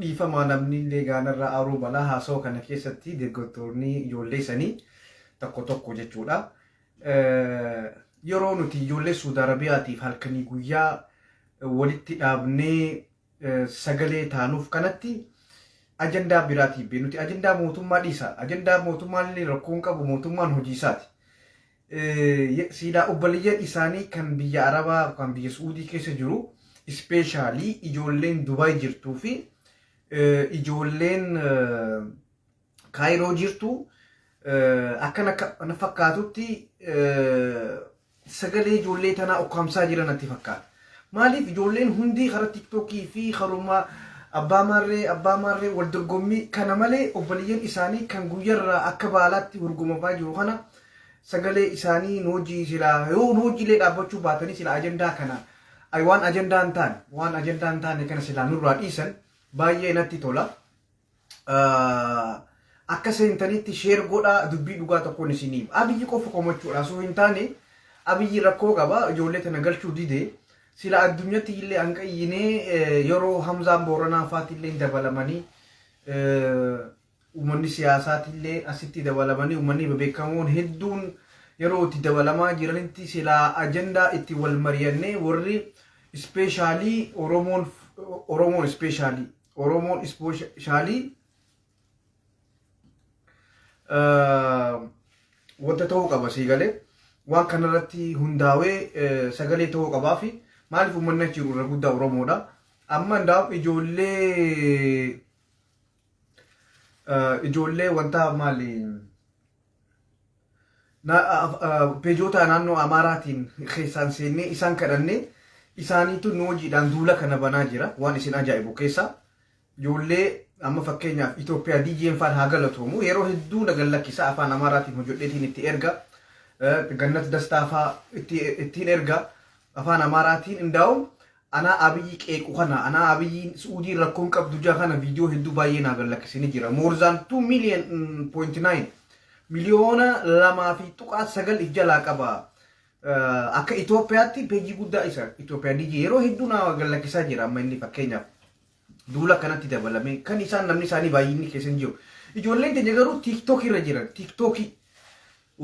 Dhiifama namni illee gaanarraa aaruu mala haasawa kana keessatti deeggartoonni ijoollee sanii tokko tokko jechuudha. Yeroo nuti ijoollee Suudi Arabiyaatiif halkanii guyyaa walitti dhaabnee sagalee taanuuf kanatti ajandaa biraatiif bee nuti ajandaa mootummaa dhiisa. Ajandaa mootummaan illee rakkoon qabu mootummaan hojii isaati. Silaa obboleeyyan isaanii kan biyya Arabaa yookaan biyya Su'uudii keessa jiru ispeeshaalii ijoolleen Dubaay jirtuu fi ijoolleen Kaayiroo jirtu akka na fakkaatutti sagalee ijoollee tanaa ukkaamsaa jira natti fakkaata. Maaliif ijoolleen hundi karaa tiktookii fi karuma abbaa maarree abbaa maarree wal dorgommii kana malee obboleeyyan isaanii kan guyyarraa akka baalaatti hurgumamaa jiru kana Sagalee isaanii nu wajjin silaa yoo nu wajjin illee dhaabbachuu baatanii silaa ajandaa kana ay waan ajandaa hin taane waan ajandaa hin taane kana silaa nurraa dhiisan baay'ee natti tola. Akka seentanitti sheer godhaa dubbii dhugaa tokkoon isiniif. Abiyyi qofa komachuudha osoo hin taane abiyyi rakkoo qaba ijoollee tana galchuu dide sila addunyatti illee an qayyinee yeroo hamzaan booranaa faati illee dabalamanii Uummanni siyaasaatiillee asitti dabalamanii uummanni bebeekamoon hedduun yeroo itti dabalamaa jiranitti silaa ajandaa itti wal mariyannee warri ispeeshaalii Oromoon Oromoon ispeeshaalii Oromoon ispeeshaalii wanta ta'uu qaba sii galee waan kanarratti hundaawee sagalee ta'uu qabaa fi maaliif uummanni achi jiru irra guddaa Oromoodha. Amma hundaa'u ijoollee Ijoollee wantaa maali peejoota naannoo Amaaraatiin keessaan seennee isaan kadhannee isaaniitu nu hojiidhaan duula kana banaa jira waan isin ajaa'ibu keessaa ijoollee amma fakkeenyaaf Itoophiyaa diyyeen faan haa galatoomu yeroo hedduu nagan lakkisa afaan Amaaraatiin hojjedheetiin itti erga gannat dastaafaa ittiin erga afaan Amaaraatiin indaa'uun Anaa Abiyyi qeequ kana anaa Abiyyiin Su'uudiin rakkoo hin qabdu jaa kana viidiyoo hedduu baay'ee naa gallakkise ni jira. More than 2 million mm, point 9 miliyoona lamaa fi tuqaa sagal if jalaa qaba. Eh, Akka Itoophiyaatti peejii guddaa isa Itoophiyaa DG yeroo hedduu naa gallakkisaa jira amma inni fakkeenyaaf. duula kanatti dabalamee kan isaan namni isaanii baay'inni keessa hin jiru. Ijoolleen teenya garuu tiiktookii irra jiran tiiktookii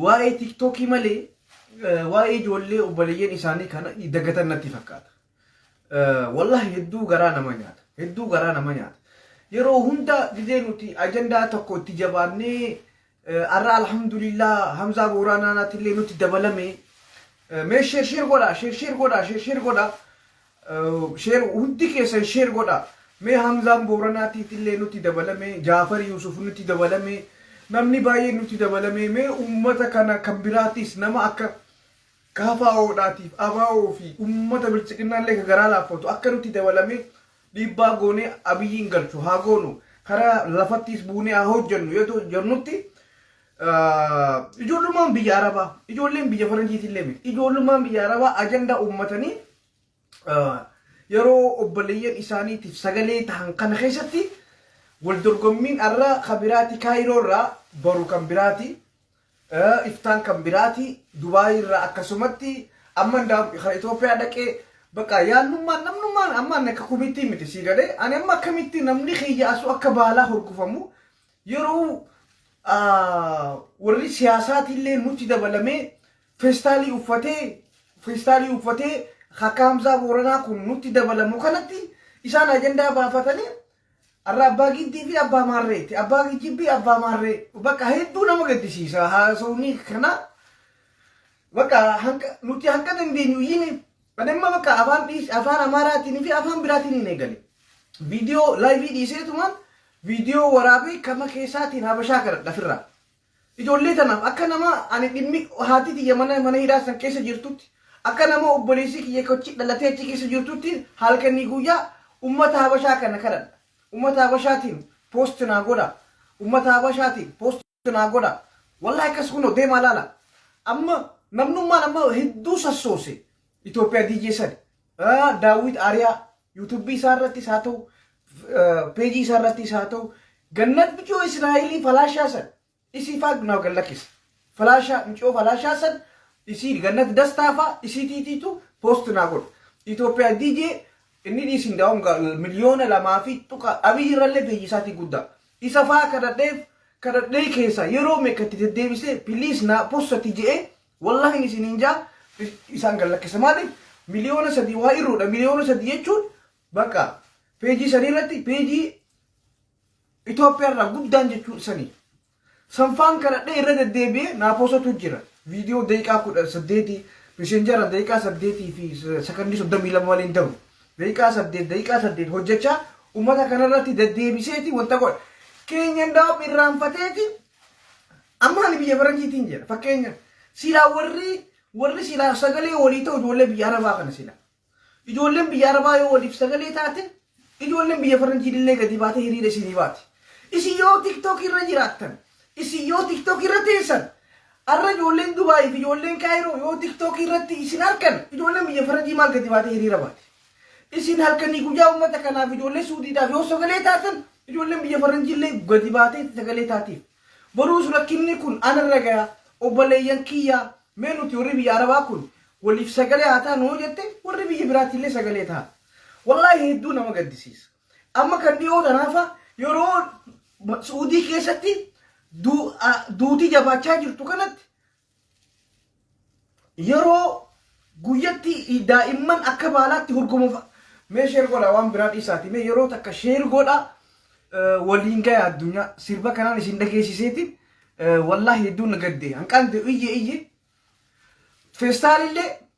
waa'ee tiiktookii malee eh, waa'ee ijoollee obboleeyyan isaanii kana dagatan natti fakkaata. Eh, Wallahi hedduu garaa nama nyaata. Hedduu garaa nama nyaata. Yeroo hunda gizee nuti ajandaa tokko itti jabaannee Arra alhamdulillah Hamzaa Booraanaanaatillee nutti dabalame. Eh, Mee sheer sheer godha, sheer sheer godha, sheer sheer godha. Eh, Sheer hundi keessan sheer godha. Mee Hamzaan Booranaatiitillee nutti dabalame, Jaafar Yuusuf nutti dabalame, namni baay'een nutti dabalame. Mee uummata kana kan biraatis nama akka kaafaa'oodhaatiif abaa'oo fi uummata bilchiqinnaallee ka garaa laaffatu akka nutti dabalame Dhiibbaa goonee Abiyyiin galchu haa goonu, karaa lafattiis buunee haa hojjennu yoo jennutti ijoollummaan biyya Arabaa, ijoolleen biyya Faranjiitillee miti. Ijoollummaan biyya Arabaa ajandaa uummatanii yeroo obboleeyyan isaaniitiif sagalee tahan kana keessatti wal dorgommiin arra ka biraati Kaayiroo irraa boru kan biraati. iftaan kan biraati Dubai irraa akkasumatti amma indaam kan Itoophiyaa dhaqee bakka yaannummaan namnummaan amma ani akka kumittii miti sii galee ani amma akkamitti namni kiyya asuu akka baalaa horgufamu yeroo ah, warri siyaasaatiillee nutti dabalamee feestaalii uffatee feestaalii uffatee akka Hamzaa Booranaa kun nutti dabalamu kanatti isaan ajandaa baafatanii Arra abbaa giddii fi abbaa maarreeti. Abbaa kijibbii abbaa maarree. Bakka hedduu nama gaddisiisa haasawni kana. Bakka hanqa nuti hanqa dandeenyu iyyine. Ani amma bakka afaan dhiis afaan amaaraatiin fi afaan biraatiin hin eegale. Viidiyoo laayivii dhiiseetumaan viidiyoo waraabee kama keessaatiin habashaa kadhadha firraa. Ijoollee tanaaf akka nama ani dhimmi haati tiyya mana mana hidhaa san keessa jirtutti akka nama obboleessii kiyya achi dhalatee achi keessa jirtutti halkanii guyyaa ummata habashaa kana kadhadha. Ummata habashaatiin post naa godha. Ummata habashaatiin post naa godha. Wallahi akkas kunoo deemaa laala. Amma namnummaan amma hedduu sassoose. Itoophiyaa DJ sadi. Daawwit Aariyaa Yuutuubbii isaa irrattis haa ta'u, peejii isaa irrattis haa ta'u, gannat miciyoo Israa'elii falaashaa san isii faa naaf gad lakkisa. Falaashaa miciyoo falaashaa san isii gannat dastaa faa isii tiitiitu poost naa godha. Itoophiyaa DJ inni dhiisi hundaa'uun miliyoona lamaa fi tuqa abiyyi irrallee peejii isaatii guddaa. Isa faa kadhadheef kadhadhee keessaa yeroo meeqa itti deddeebisee piliis naa postati je'ee Wallahin isinin ja isaan gad lakkisa maaliif miliyoona sadii waa irruudha miliyoona sadii jechuun bakka peejii sanii irratti peejii Itoophiyaa irraa guddaan jechuun sanii sanfaan kadhadhee irra deddeebi'ee naa poosatu jira viidiyoo daqiiqaa kudha saddeetii miseenjara daqiiqaa saddeetii fi sakandii soddomii lama malee hin ta'u daqiiqaa saddeet daqiiqaa saddeet hojjechaa ummata kanarratti deddeebiseeti wanta godha keenya ndaa'u irraanfateeti Amma ani biyya faranjiitiin jira fakkeenya silaa warri warri silaa sagalee walii ta'u ijoollee biyya arabaa kana silaa ijoolleen biyya arabaa yoo waliif sagalee taate ijoolleen biyya faranjiin illee gadi baatee hiriira isinii baati isin yoo tiktookii irra jiraattan isin yoo tiktookii irra teessan arra ijoolleen dubaayii fi ijoolleen kaayiroo yoo tiktookii irratti isin arkan ijoolleen biyya faranjii maal gadi baatee hiriira baati isin halkanii guyyaa uummata kanaaf ijoollee suudiidhaaf yoo sagalee taatan ijoolleen biyya faranjii illee gadi baatee sagalee taatiif Boruus rakkinni kun ana irra gaya obboleeyyan kiyya mee nuti warri biyya arabaa kun waliif sagalee haa taanu yoo jette warri biyya biraatiillee sagalee taha. Wallaahi hedduu nama gaddisiisa. Amma kan dhiyoo tanaafa yeroo su'uudii keessatti duuti jabaachaa jirtu kanatti Yeroo guyyatti daa'imman akka baalaatti hurgumuuf mee sheer godha waan biraa dhiisaati mee yeroo takka sheer godha waliin gaya addunyaa sirba kanaan isin dhageessiseeti wallaahi hedduun na gadde hanqaan ta'e iyye iyye feestaalillee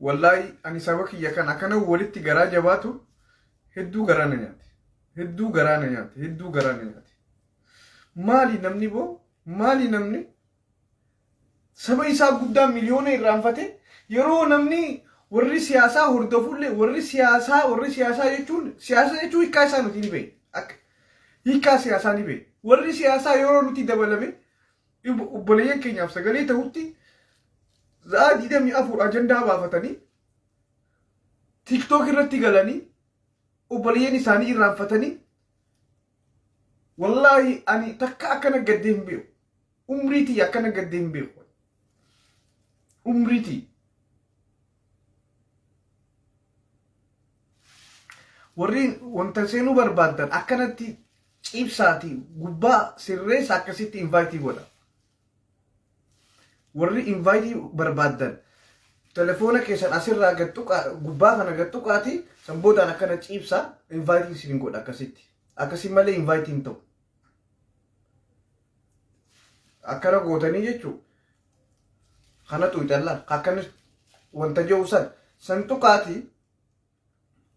Wallaahi ani saba kiyya kan akkana walitti garaa jabaatu hedduu garaa na nyaate. Hedduu garaa na nyaate. Hedduu garaa na nyaate. Maali namni boo? Maali namni? Saba isaa guddaa miliyoona irraanfatee yeroo namni warri siyaasaa hordofullee warri siyaasaa warri siyaasaa jechuun siyaasa jechuun hiikaa isaa nuti ni beekna. Akka hiikaa siyaasaa ni beekna. Warri siyaasaa yeroo nuti dabalame obboleeyyan keenyaaf sagalee ta'utti za'a digdamii afur ajandaa baafatanii tiktook irratti galanii obboleeyyan isaanii irraanfatanii wallaahi ani takka akkana gaddee hin beeku umriitii akkana gaddee hin beeku umriitii warri wanta seenuu barbaaddan akkanatti ciibsaatii gubbaa sirreessa akkasitti invaayitii godha. Warri invaayitii barbaaddan telefoona keessan asirraa gad tuqaa gubbaa kana gad tuqaati san boodaan akkana ciibsaa invaayitii isin godha akkasitti. Akkasii malee invaayitii hin ta'u. Akkana gootanii jechuun Kanatu calla akkan wanta jehu san san tuqaati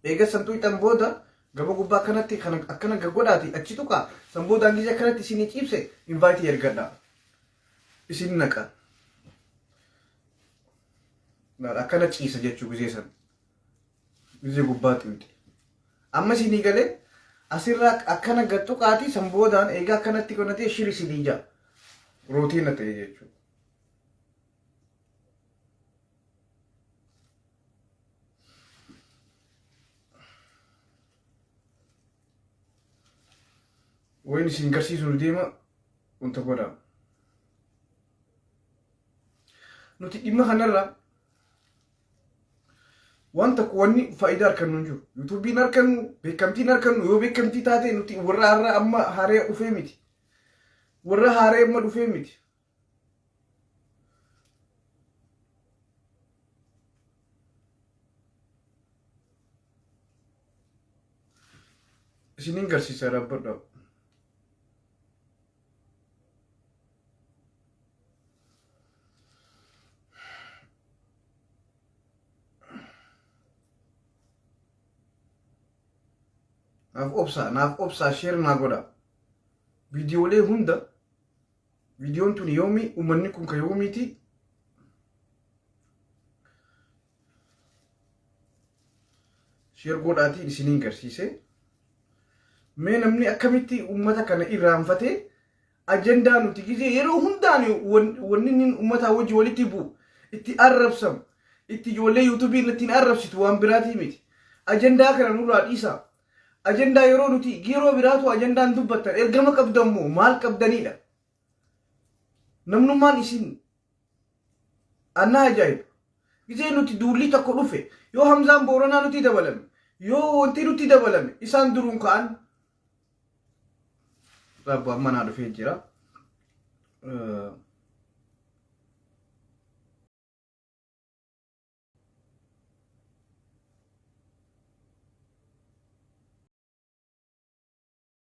eega san tuqxan booda gama gubbaa kanatti kan akkana gaggodhaati achi tuqa san booda hangisee kanatti isin ciibse invaayitii ergadha isin naqa akkana ciisa jechuu gisee san Dirree gubbaatti miti. Amma isinii galee asirraa akkana gad tuqaatii san boodaan eegaa akkanatti qonatee shiri isinii ja'a. Rootiina ta'e jechuudha. Wayni isin garsiisu nu deema wanta godhaa. Nuti dhimma kanarraa Waan tokko wanni faayidaa arkannu hin jiru. Yuutuubiin arkannu, beekamtiin arkannu yoo beekamtii taate nuti warra har'a amma haaree dhufee miti. Warra haaree amma dhufee miti. Isiniin garsiisa dhaabbadhaa. naaf obsaa naaf obsaa sheer naa godha viidiyoolee hunda viidiyoon tun yoomii uummanni kun ka yoomiiti Sheer godhaatii isiniin garsiise. Mee namni akkamitti uummata kana irraanfatee ajandaa nuti gizee yeroo hundaan wanni inni uummataa wajji walitti bu'u itti arrabsamu itti ijoollee yuutuubii irratti hin arrabsitu waan biraatii miti. Ajandaa kana nurraa dhiisaa. Ajandaa yeroo nuti yeroo biraatu ajandaan dubbattan ergama qabdan moo maal qabdanidha? Namnummaan isin annaa ajaa'iba. Gizee nuti duullii tokko dhufe yoo Hamzaan Booranaa nuti dabalame yoo wanti nuti dabalame isaan duruun ka'an rabbu amma naa dhufee jira.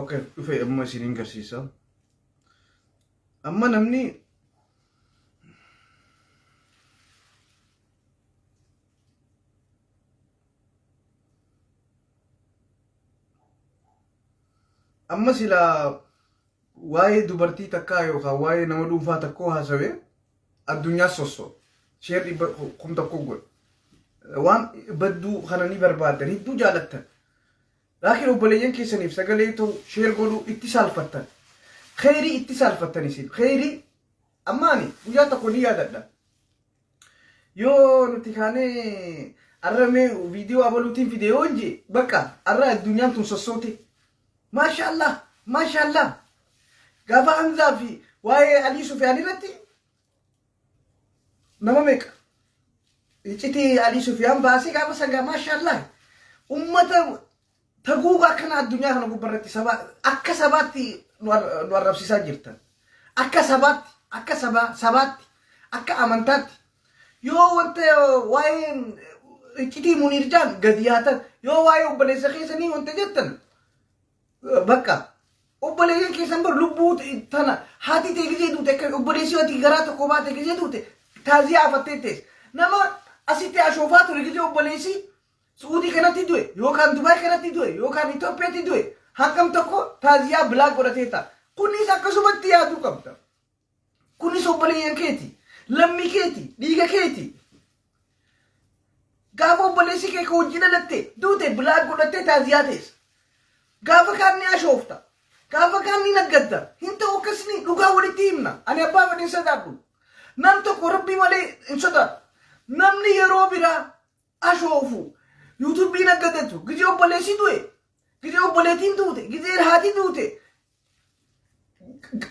Okay, dhufe amma isiniin garsiisa. Amma namni amma silaa waa'ee dubartii takkaa yookaan waa'ee nama dhuunfaa takkoo haasawee addunyaa sosso sheer dhibba kum tokko godha waan badduu kana ni barbaaddan hedduu jaalattan laakiin obboleeyyan keessaniif sagalee ta'u sheer godhuu itti saalfattan kheyrii itti saalfattan isin kheyrii ammaani guyyaa tokko ni yaadadha yoo nuti kaanee arra mee viidiyoo abaluutiin fide yoo jee bakka arra addunyaan tun sossooti Mashallah mashallah gafa hamza fi waa'ee alii sufiyaan irratti nama meeqa iciti alii sufiyaan baasee gaafa sangaa mashallah ummata taguuga akkana addunyaa kana gubba irratti saba akka sabaatti nu ar- nu arrabsisaa jirtan akka sabaatti akka sabaa sabaatti akka amantaatti Yoo wanta waa'ee iccitii Muniir jaan gadi yaatan yoo waa'ee obboleessa keessanii wanta jettan bakka obboleeyyan keessan bar lubbuu tana haati ta'e gizee duute akka obboleessi ati garaa tokko baate gizee duute taaziyaa afattee tees nama asitti ashoofaa ture gizee obboleessi Suudii kanatti du'e yookaan Dubaay kanatti du'e yookaan Itoophiyaatti du'e hangam tokko taaziyaa bilaak godhatee ta'a. Kunis akkasumatti yaaduu qabda. Kunis obboleeyyan keeti. Lammii keeti. Dhiiga keeti. Gaafa obboleessi kee ka hojii dhalatte duute bilaak godhattee taaziyaa teessa. Gaafa kaan ni ashoofta. Gaafa kaan ni naggadda. Hin ta'u akkasni dhugaa walitti himna. Ani abbaa fedhe hin sodaadhu. Nam tokko rabbii malee hin sodaadhu. Namni yeroo biraa ashoofu yuutuubii naggadatu gizee obboleessi du'e gizee obboleetiin duute gizee haati duute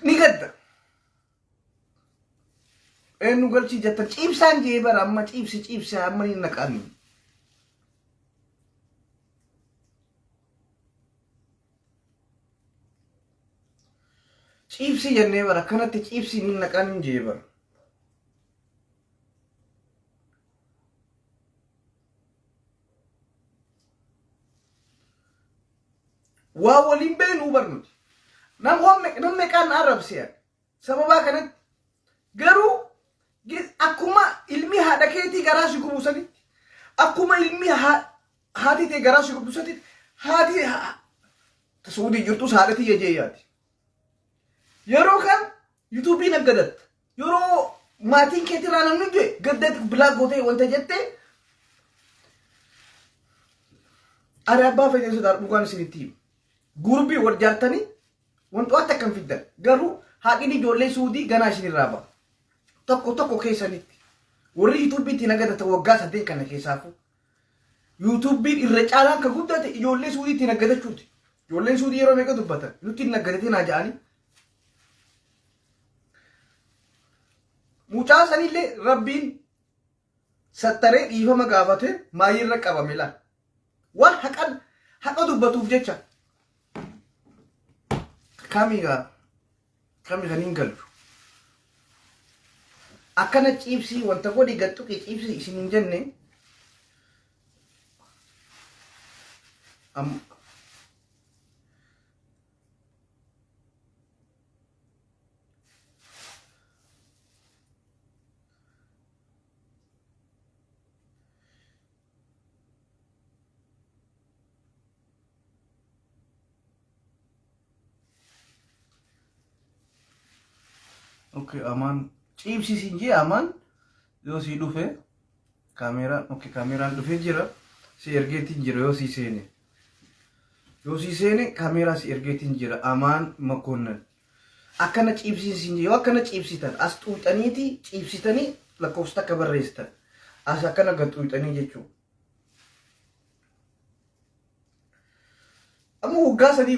ni gadda. Eenyu galchii jettan ciibsaan jee bara amma ciibsi ciibsi amma ni naqaani. Ciibsi jennee bara akkanatti ciibsi ni naqaani jee bara. waa waliin beeknuu barnuti nam meeqaan na arrabsean sababaa kanatti garuu akkuma ilmi haadha keetii garaa si gubu sanitti akkuma ilmi haati tee garaa si gubdu sanitti haati suudii jirtus haadha tiyya jee yaati yeroo kan Yutubii naggadatta. Yeroo maatiin keetirraa namni du'e gadda bilaak gootee wanta jettee ani abbaa fedhee sodaa dhugaan isinitti himu. Gurbii wal jaartanii wantoota akkam fiddan garuu haadhiin ijoollee suudii ganaa isinirraa ba'a. Tokko tokko keessanitti warri yuutuubiitti nagadatan waggaa saddeet kana keessaafuu yuutuubiin irra caalaa akka guddate ijoollee suudiitti nagadachuuti. Ijoolleen suudii yeroo meeqa dubbatan nutti hin nagadatin haa ja'anii Mucaa sanillee rabbiin sattaree dhiifama gaafate maayirra qabame laal. Waan haqan haqa dubbatuuf jecha. Kami gaa kami kan hin galchu. Akkana ciibsii wanta godhi gaxxuqii ciibsii isin hin jenne. Amma Okay, amaan ciibsi siin jee amaan yoo sii dhufe kaameeraan okay kaameeraan dhufee jira si ergeetiin jira yoo sii seene Yoo sii seene kameeraa si ergeetiin jira amaan makoonnan. Akkana ciibsiin siin jira. Yoo akkana ciibsitan as xuuxaniiti ciibsitanii lakkoofsa takka barreessitan. As akkana gad xuuxanii jechuudha. Amma waggaa sadii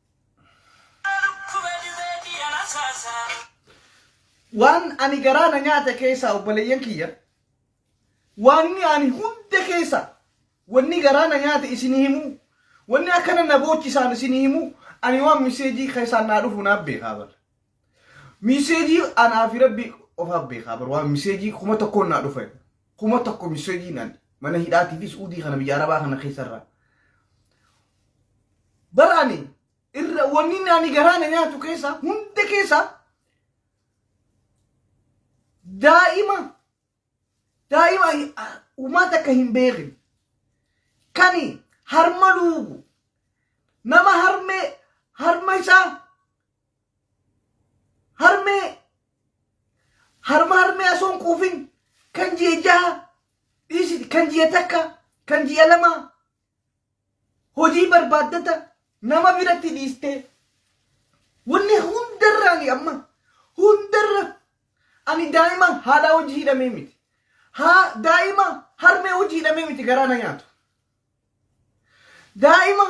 Waan ani garaa na nyaate keessaa obboleeyyan kiyya waanni ani hunda keessa wanni garaa na nyaate isin himu wanni akkana na boochisaan isin himu ani waan miseejii keessaan naa dhufu naaf beekaa bara Miseejii anaa fi rabbi ofaa beekaa bar waan miseejii kuma tokkoon naa dhufe kuma tokko miseejii naan mana hidhaatii fi suudii kana biyya arabaa kana keessarraa. Baraani irra wanni naani garaa na nyaatu keessaa hunda keessaa daa'ima daa'ima uumaa takka hin beekin kani harma luugu nama harmee harma isaa harmee harma harmee osoo hin quufin kan ji'a jaha dhiisiti kan ji'a takka kan ji'a lama hojii barbaaddata nama biratti dhiistee wanni hundarra ani amma hundarra ani daa'ima haadhaa hojii hidhamee miti haa daa'ima harmee hojii hidhamee miti garaa na nyaatu daa'ima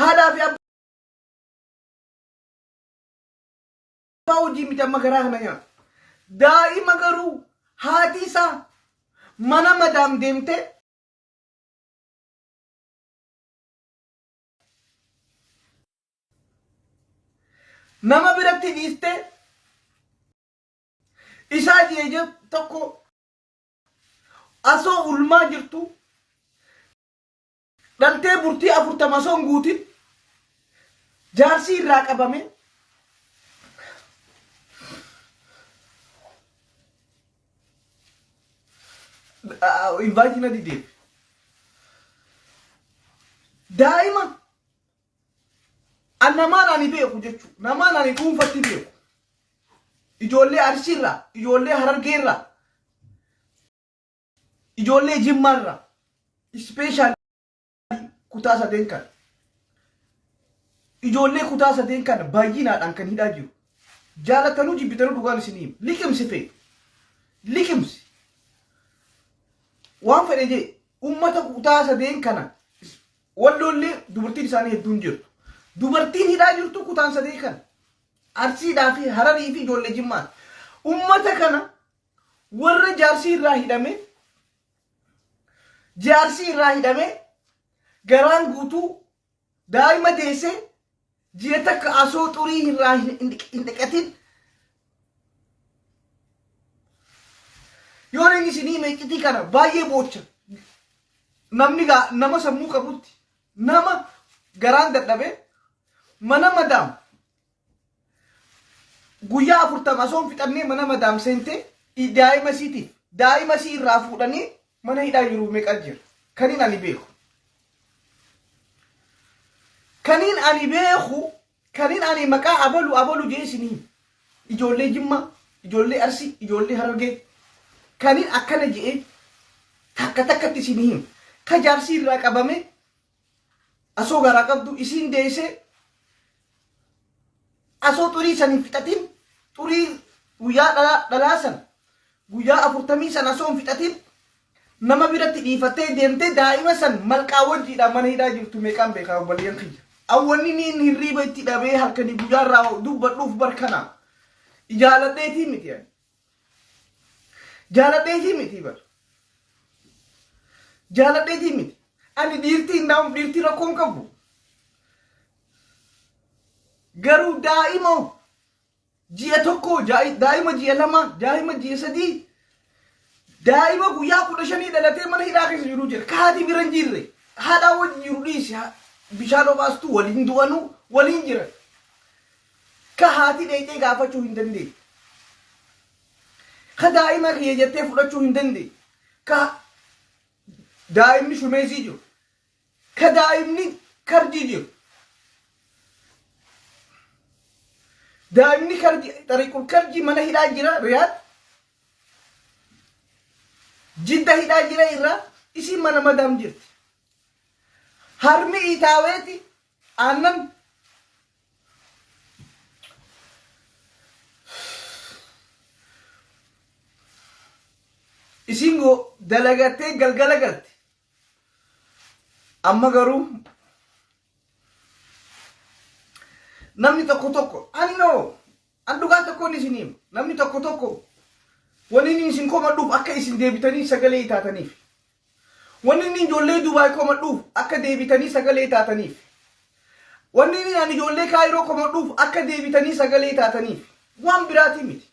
haadhaa fi abbaa Abbaa hojii miti amma garaa kana nyaata. Daa'ima garuu haati isaa mana madaam deemtee nama biratti dhiistee isaa jeeje tokko asoo ulmaa jirtu Dhaltee bultii 40 osoo hin guutin jaarsii irraa qabame invaayitii na didee daa'ima an namaan ani beeku jechuudha namaan ani dhuunfatti beeku ijoollee arsiirraa ijoollee harargeerraa Ijoollee Jimmaa irraa ispeeshaal kutaa sadeen kan ijoollee kutaa sadeen kan baay'inaadhaan kan hidhaa jiru. Jaalattanuu jibbitanuu dhugaan isinii hima. Liqimsi fe'e. Liqimsi. Waan fedhe jee uummata kutaa sadeen kana is- walloollee dubartiin isaanii hedduun jirtu. Dubartiin hidhaa jirtu kutaan sadee kana. Arsiidhaa fi hararii fi ijoollee jimmaati. Uummata kana Warra jaarsii irraa hidhame jaarsii irraa hidhame garaan guutuu daa'ima deesse ji'a takka asoo xurii irraa hin dhiqatin yoo inni isinii meeqitii kana baay'ee boocha namni gaa nama sammuu qabutti nama garaan dadhabe mana madaam Guyyaa afurtama osoo hin fixannee mana madaam seentee i- daa'ima isiitiif daa'ima isii irraa fuudhanii mana hidhaa jiruuf meeqa jira kaniin ani beeku. Kaniin ani beeku kaniin ani maqaa abalu abalu jee isinii ijoollee jimmaa ijoollee arsii ijoollee harargee kaniin akkana jee takka takkatti isinii hima. Ka jaarsii irraa qabamee Asoo garaa qabdu isiin deessee asoo xurii san hin fixatin xurii guyyaa dhalaa dhalaa san guyyaa afurtamii san asoo hin fixatin nama biratti dhiifattee deemtee daa'ima san malqaa wajjiidhaan mana hidhaa jirtu meeqaan beekaa obboleeyyan kiyya. Awwanni niin hirriiba itti dhabee halkanii guyyaa irraa dubbadhuuf barkana ijaaladheetii miti ani. Jaaladheetii miti bar. Jaaladheetii miti. Ani dhiirtii hin daa'uuf dhiirtii rakkoo hin qabu. Garuu daa'ima ji'a tokko, jaa'i- daa'ima ji'a lama, daa'ima ji'a sadii, daa'ima guyyaa kudha shanii dhalatee mana hidhaa keessa jiru jira. Kaati bira hin jirre. Haadhaa wajji jiru dhiisi. Ha- Bishaan obaastuu waliin du'anuu waliin jiran. Ka haati dheyxee gaafachuu hin dandeenne. Ka daa'ima kiyya jettee fudhachuu hin dandeenne. Ka daa'imni shumeeysii jiru. Ka daa'imni karjii jiru. Daa'imni karjii xariiqul karjii mana hidhaa jira Riyaad. Jidda hidhaa jira irraa isiin mana madaam jirti. Harmi iitaaweeti Aannan isiin go dalagattee galgala galte. Amma garuu namni tokko tokko annoo An dhugaa tokkoon isin hima. Namni tokko tokko wanni inni isin komadhuuf akka isin deebitanii sagalee taataniif. Wanni inni ijoollee Dubaay komadhuuf akka deebitanii sagalee taataniif. Wanni inni ani ijoollee Kaayiroo komadhuuf akka deebitanii sagalee taataniif. Waan biraatii miti.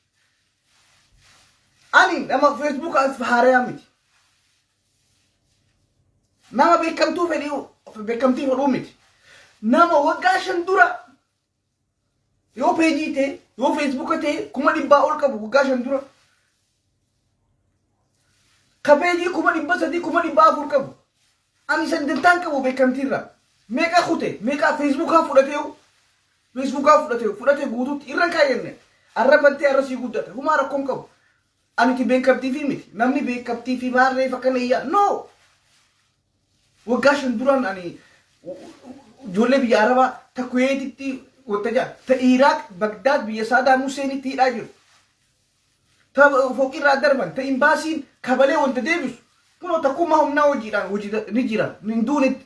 Ani nama Facebook as haarayaa miti. Nama beekamtuu fedhii beekamtii fedhuu miti. Nama waggaa shan dura Yoo peejii ta'e, yoo feesbuuka ta'e kuma dhibbaa ol qabu waggaa shan dura. Ka peejii kuma dhibba sadii kuma dhibba afur qabu. Ani san dantaan qabu beekamtiirraa. Meeqa kute, meeqa feesbuukaa fudhatee feesbuukaa fudhatee fudhate guutuutti irra hin kaayyanne. Arra bantee arra sii guddata. Humaa rakkoo hin qabu. Aniti beekamtiifii miti. Namni beekamtiifii maarree fakkana iyyaa. No! Waggaa shan duraan ani ijoollee biyya Arabaa ta Kuweetitti wanta jaa ta Iraaq Bagdaad biyya Saadaam Huseenitti hidhaa jiru. Ta foqirraa darban ta imbaasiin kabalee wanta deebisu kunoo takkummaa humnaa hojiidhaan hojii ni jira hin duunetti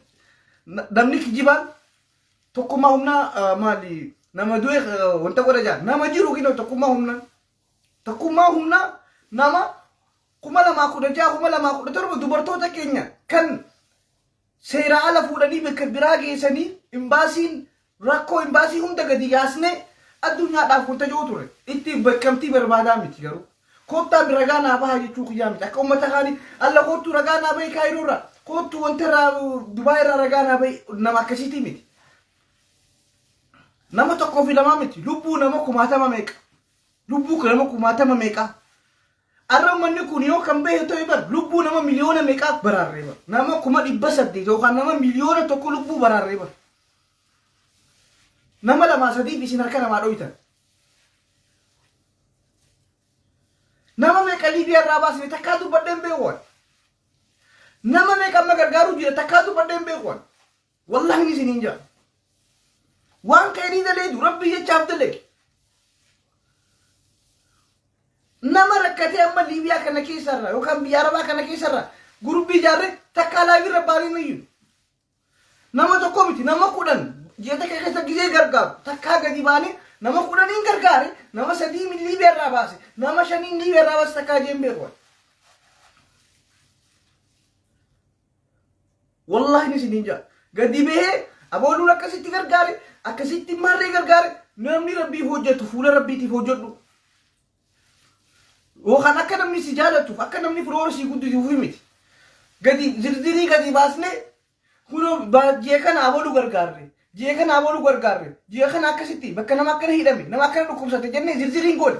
namni kijibaan tokkummaa humnaa maali nama du'e wanta godha jaa nama jiru kinoo tokkummaa humnaa Tokkummaa humnaa nama 2016 2017 dubartoota keenya kan seeraa ala fuudhanii bakka biraa geessanii imbaasiin rakkoo imbaasii hunda gadi yaasnee addunyaadhaaf kun taja'uu ture. Ittiif bakkamtii barbaadaa miti garuu. Koottaa mi ragaa naa bahaa jechuu kiyyaa miti. Akka uummata kaanii alla koottuu ragaa naa bahi kaayiroo irraa koottuu wanta irraa Dubaay irraa ragaa naa bahi nama akkasiitii miti. Nama tokkoo fi lamaa miti lubbuu nama kumaatama meeqa. Lubbuu kan nama kumaatama meeqaa. Arra ummanni kun yoo kan bahe ta'e bar lubbuu nama miliyoona meeqaa baraarree bar. Nama kuma dhibba saddeet yookaan nama miliyoona tokko lubbuu baraarree bar. Nama lamaa sadiif isin harka namaa dhoytan. Nama meeqa Liibiyaa irraa baasne takkaa dubbadheen beekuwan. Nama meeqa amma gargaaruu jira takkaa dubbadheen beekuwan. Wallahi ni isiniin jaa. Waan keenii daleedu rabbii jechaaf dalage. Nama rakkatee amma Liibiyaa kana keessarra yookaan biyya Arabaa kana keessarra gurbii ijaarree takkaa laavirra baanee hin iyyinu. Nama tokko miti nama kudhan ji'a takka keessa gizee gargaaru takkaa gadi baanee nama kudhaniin gargaare nama sadii min Liibiyaa irraa baase nama shaniin Liibiyaa irraa baase takkaa jeen beeku. Wallaahi ni isiniin jaa. Gadi bahee aboonuun akkasitti gargaare akkasitti marree gargaare namni rabbii hojjetu fuula rabbiitiif hojjedhu. Yookaan akka namni si jaalatuuf akka namni firoora sii guddisuuf miti. Gadi zirzirii gadi baasnee kunoo ba- ji'a kana abaluu gargaarre ji'a kana abaluu gargaarre ji'a kana akkasitti bakka nama akkana hidhame nama akkana dhukkubsate jennee zirziriin goone.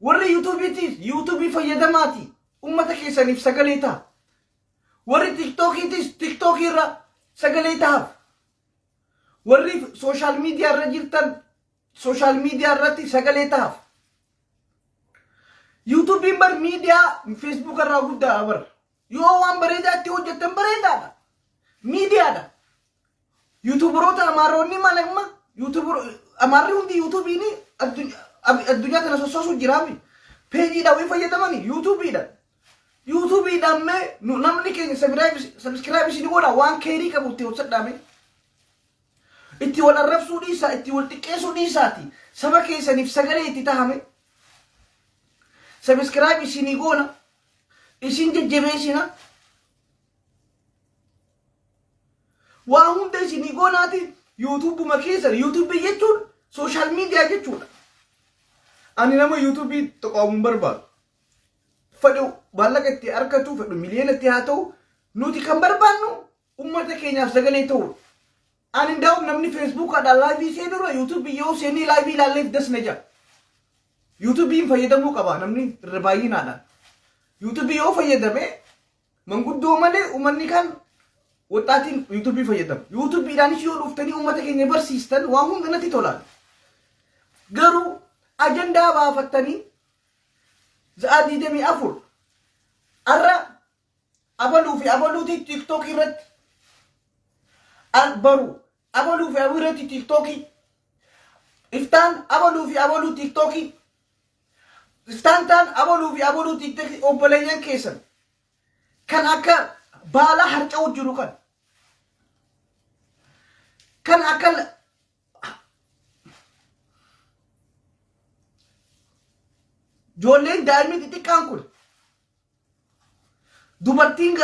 Warri yuutuubiitiif yuutuubii fayyadamaati ummata keessaniif sagalee ta'a. Warri tiktookiitis tiktookii irra sagalee ta'aaf. Warri sooshaal miidiyaa irra jirtan sooshaal miidiyaa irratti sagalee ta'aaf. Yuutuubiin bar miidiyaa feesbuuk irraa guddaadha bar. Yoo waan bareedaa itti hojjettan bareedaadha. Miidiyaadha. Yuutuubaroota Amaaronni malee amma yuutuubaro Amaarri hundi yuutuubiin addunyaa ab- addunyaa kana sossoosuuf jiraami. Peejiidhaan wayii fayyadamani yuutuubiidhaan. Yuutuubiidhaan mee nu- namni keenya sabiskiraayib isin godha waan keerii qabu itti hojjedhaame. Itti wal arrabsuu dhiisaa, itti wal xiqqeessuu dhiisaati. Saba keessaniif sagalee itti tahame. Sabiskiraayib isinii goona. Isin jajjabeessina. Waa hunda isinii goonaati yuutuubuma keessan yuutuubii jechuun sooshaal miidiyaa jechuudha. Ani nama yuutuubii tuqaamu hin barbaadu. Fedhu maallaqa itti argatu fedhu miliyoona itti haa ta'u nuti kan barbaannu uummata keenyaaf sagalee ta'uudha. Ani ndaa'u namni feesbuukaadhaan laayivii seenurra yuutuubii yoo seenee laayivii ilaalleef das na ja'a. Yuutuubiin fayyadamuu qaba namni irra baay'inaadhaan. Yuutuubii yoo fayyadame Manguddoo malee uummanni kaan waxxaatiin yuutuubii fayyadama. Yuutuubiidhaanis yoo dhuftanii uummata keenya barsiistan waa hunda natti tolaan. Garuu ajandaa baafattanii za'a 24 arra abaluu fi abaluutii tiiktookii irratti baru Abaluu fi Abireetti tiiktookii. Iftaan abaluu fi abaluu tiiktookii. Iftaan taan abaluu fi abaluu tiiktookii obboleeyyan keessan. Kan akka baalaa harca'u jiru kan. Kan akka ijoolleen daa'imni xixiqqaan kun dubartiin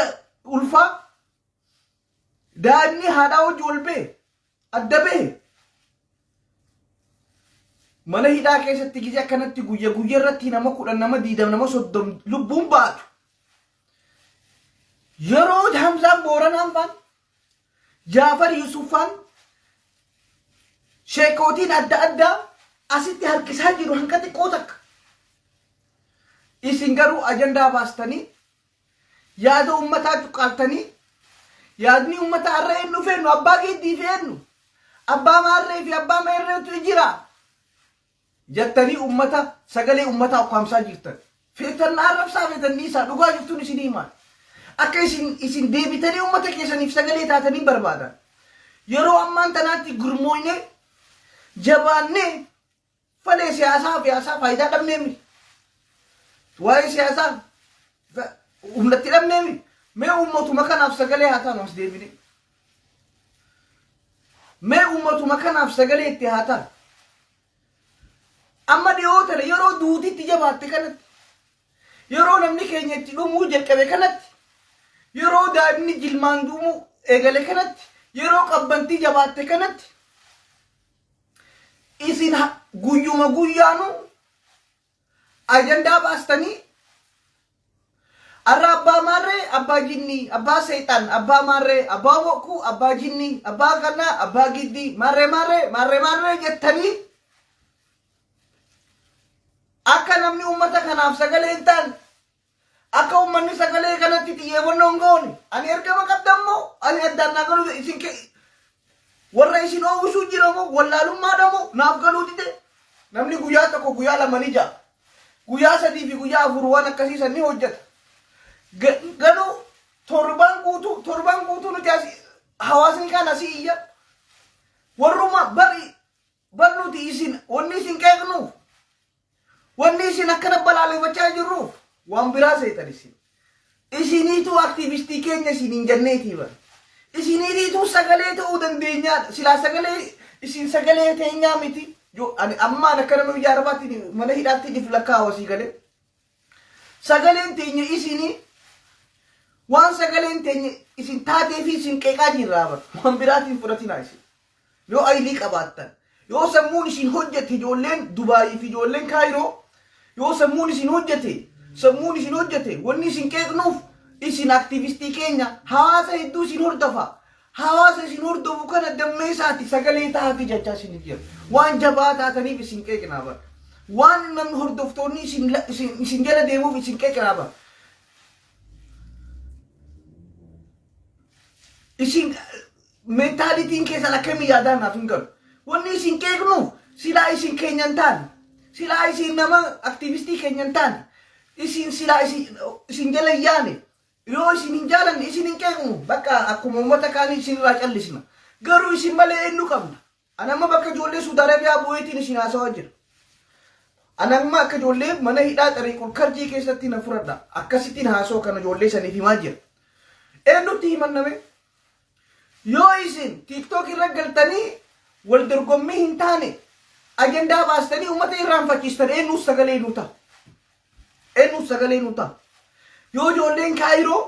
ulfaa Daa'imni haadhaa hojii wal ba'e adda ba'e mana hidhaa keessatti gizee akkanatti guyya guyya irratti nama kudhan nama diidam nama soddom lubbuun baatu. Yeroo Hamzaan Booranaan faan Jaafar Yusuffaan sheekootiin adda addaa asitti harkisaa jiru hanga xiqqoo takka. Isin garuu ajandaa baastanii Yaada ummataa cuqqaaltanii yaadni ummataa har'a eennuuf eennu? Abbaa Geeddii fi eennu? Abbaa Maarree fi Abbaa Meerreetu ijira? jattanii ummata sagalee ummataa ukkaamsaa jirtan. Feetan na arrabsaa feetan dhiisaa dhugaa jirtuun isin himaa. Akka isin isin deebitanii ummata keessaniif sagalee taatanii barbaadan. Yeroo ammaan tanaatti gurmooynee jabaannee Fale siyaasaa fi haasaa faayidaa dhabnee miti. Waa'ee siyaasaa fa- humnatti dhabnee miti. Mee uummatuma kanaaf sagalee haa taanu as deebinee. Mee uummatuma kanaaf sagalee itti haa taanu. Amma dhiyoo tana yeroo duuti itti jabaatte kanatti yeroo namni keenya itti dhumuu jalqabe kanatti yeroo daa'imni jilmaan duumuu eegale kanatti yeroo qabbantii jabaatte kanatti Isin ha- guyyuma guyyaanu ajandaa baastanii arra abbaa maarree abbaa jinnii abbaa seexan abbaa maarree abbaa bokkuu abbaa jinnii abbaa kanaa abbaa giddii maarree maarree maarree maarree jettanii akka namni ummata kanaaf sagalee hin taane Akka ummanni sagalee kanatti xiyyeefannoo hin goone ani ergama qabdan moo ani addaan naa galuu isin ke warra isin oowwisuu jira moo wallaalummaadha moo naaf galuu dide namni guyyaa tokko guyyaa lama ni ja'a guyyaa sadii fi guyyaa afur waan akkasii san ni hojjeta Ga- garuu torbaan guutuu torbaan guutuu nuti asi hawaasni kaan asii iyya warruma bari Bar nuti isin wanni isin qeeqnuuf wanni isin akkana balaaleffachaa jirruuf waan biraa seetan isin. Isiniituu aktiivistii keenya isin hin janneetii bar. Isiniitiituu sagalee ta'uu dandeenyaadha. Silaa sagalee isin sagalee teenyaa miti. Yoo ani ammaan akkana nu ijaarabaatiin mana hidhaattiin if lakkaawasii galee. Sagaleen teenya isinii waan sagaleen teenya isin taatee fi isin qeeqaa jirraa bar waan biraatiin fudhatinaa isin yoo aylii qabaattan yoo sammuun isin hojjete ijoolleen dubaayii fi ijoolleen kaayiroo yoo sammuun isin hojjete sammuun isin hojjete wanni isin qeeqnuuf isin aktiivistii keenya hawaasa hedduu isin hordafa Hawaasa isin hordofu kana dammeessaati sagalee ta'aafi jechaa isiniif jira. Waan jabaa taataniif isin qeeqnaa bara. Waan namni hordoftoonni isin la- isin- isin jala deemuuf isin qeeqnaa bara. isin mentaalitiin keessan akkamii yaadaan naaf hin galu. Wanni isin qeeqnuuf silaa isin keenya hin taane, silaa isin nama aktiivistii keenya hin taane, isin silaa isin, isin jala hin yaane, Yoo isin hin jaalanne isin hin qeeqnu. Bakka akkuma uummata kaanii isin irraa callisna. Garuu isin malee eenyu qabna? Ani amma bakka ijoollee Suudi Arabiyaa bu'eetiin isin haasawaa jira. Ani amma akka ijoollee mana hidhaa Xariiqul Karjii keessatti na furadha. Akkasittiin haasawa kana ijoollee saniif himaa jira. Eenyutti himanname? Yoo isin tiktok irra galtanii wal dorgommii hin taane ajandaa baastanii ummata irraanfachiistan eennuus sagalee nuu ta'a. Eennuus sagalee nuu ta'a. Yoo ijoolleen kaayiroo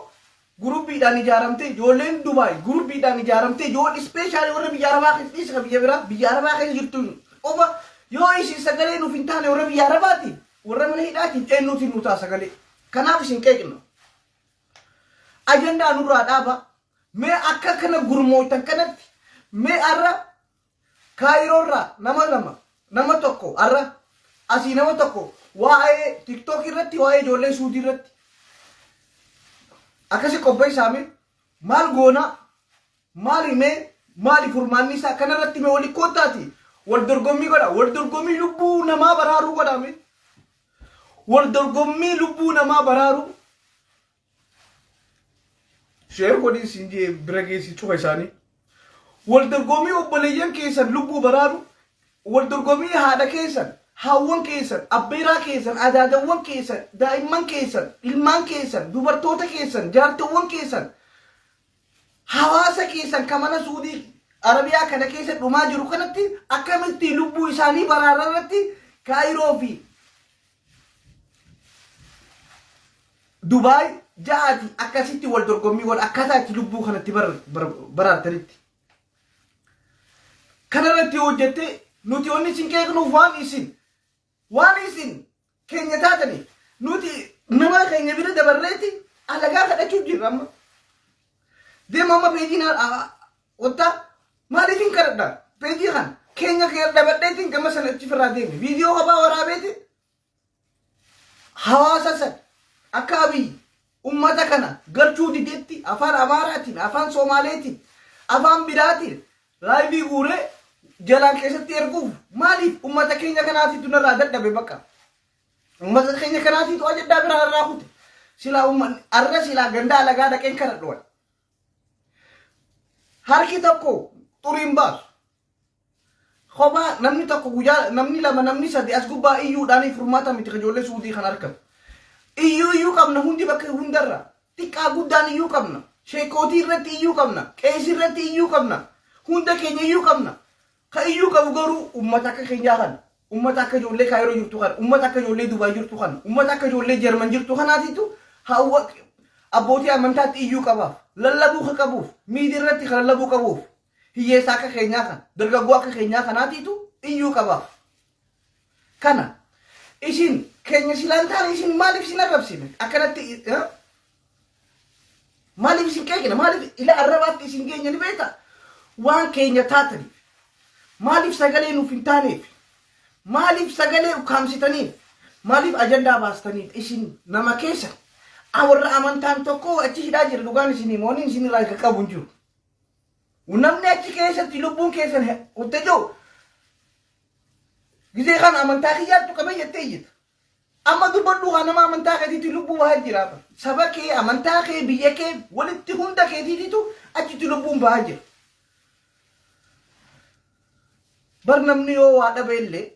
gurubbiidhaan ijaaramte, ijoolleen Dubaay gurubbiidhaan ijaaramte, ijoolleen ispeeshaalii warra biyya Arabaa keessa dhiisi kan biyya biraa biyya Arabaa keessa jirtu qofa yoo isin sagalee nuuf hin taane warra biyya Arabaatiin warra mana hidhaatiin eennuutiin nuu ta'a sagalee. Kanaaf isin qeeqna. Ajandaa nurraa dhaaba. Mee akka kana gurmooytan kanatti mee arra kaayiroo irraa nama lama nama tokko arra asii nama tokko waa'ee tiktok irratti waa'ee ijoollee suudii irratti akkasi qopheessaa mee maal goonaa maali mee maali furmaanni isaa kana irratti mee wali koottaati wal dorgommii godha wal dorgommii lubbuu namaa baraaruu godha mee wal dorgommii lubbuu namaa baraaruu Sheer godhii siin jee bira geessi cufa isaanii. Wal dorgommii obboleeyyan keessan lubbuu baraaru, wal dorgommii haadha keessan, haawwan keessan, abbeeraa keessan, adaadawwan keessan, daa'imman keessan, ilmaan keessan, dubartoota keessan, jaartewwan keessan, hawaasa keessan ka mana Suudii Arabiyaa kana keessa dhumaa jiru kanatti akkamitti lubbuu isaanii baraara irratti Kaayiroo fi Dubaay ja'aati akkasitti wal dorgommii godha akkaataa itti lubbuu kanatti baraartanitti. Kanarratti yoo hojjette nuti onni isin qeeqnuuf waan isin waan isin keenya taataniif nuti nama keenya bira dabarreeti alagaa kadhachuuf jirra amma. Deema amma peejiin Kottaa maaliifin kadhadha peejii kan keenya kee dhabadheetiin gama sana achi firraa deeme viidiyoo kophaa waraabeeti hawaasa san akka abiy ummata kana galchuu didetti afaan amaaraatiin afaan soomaaleetiin afaan biraatiin laayivii guuree jalaan keessatti erguuf maaliif ummata keenya kanaatiitu narraa dadhabe bakka ummata keenya kanaatiitu ajaddaa biraa irraa kute silaa ummanni arra silaa gandaa alagaa dhaqeen kadhadhuwan Harki tokko xurii hin baasu. Kophaa namni tokko guyyaa namni lama namni sadi as gubbaa iyyuudhaan furmaata miti ijoollee suudii kan argatu. Iyyuu iyyuu qabna hundi bakka hundarra. Xiqqaa guddaan iyyuu qabna. Sheekootii irratti iyyuu qabna. Qeesii irratti iyyuu qabna. Hunda keenya iyyuu qabna. Ka iyyuu qabu garuu ummata akka keenyaa kana. Ummata akka ijoollee Kaayiroo jirtu kana. Ummata akka ijoollee Dubaay jirtu kana. Ummata akka ijoollee Jarman jirtu kanaatitu hawwa abbootii amantaatti iyyuu qabaaf. Lallabuu ka qabuuf. Miidiya irratti ka lallabuu qabuuf. Hiyyeessa akka keenyaa kana. Dargaggoo akka keenyaa kanaatitu iyyuu qabaaf. Kana isin keenya silaan taane isin maaliif isin arrabsine akkanatti eh? maaliif isin qeeqne maaliif ila arrabaatti isin keenya ni beekta waan keenya taataniif maaliif sagalee nuuf hin taaneef maaliif sagalee ukkaamsitaniif maaliif ajandaa baastaniif isin nama keessa warra amantaan tokko achi hidhaa jira dhugaan isinii mooniin isin irraa kan qabu hin jiru. Namni achi keessatti lubbuun keessan utte jiru Gizee kana amantaa kiyyaattu qabee jettee iyyita. Amma dubbadhu haa nama amantaa keetiitti lubbuu bahaa jira. Saba kee, amantaa kee, biyya kee, walitti hunda keetiitiitu achitti lubbuun bahaa jira. Bar namni yoo waa dhabe illee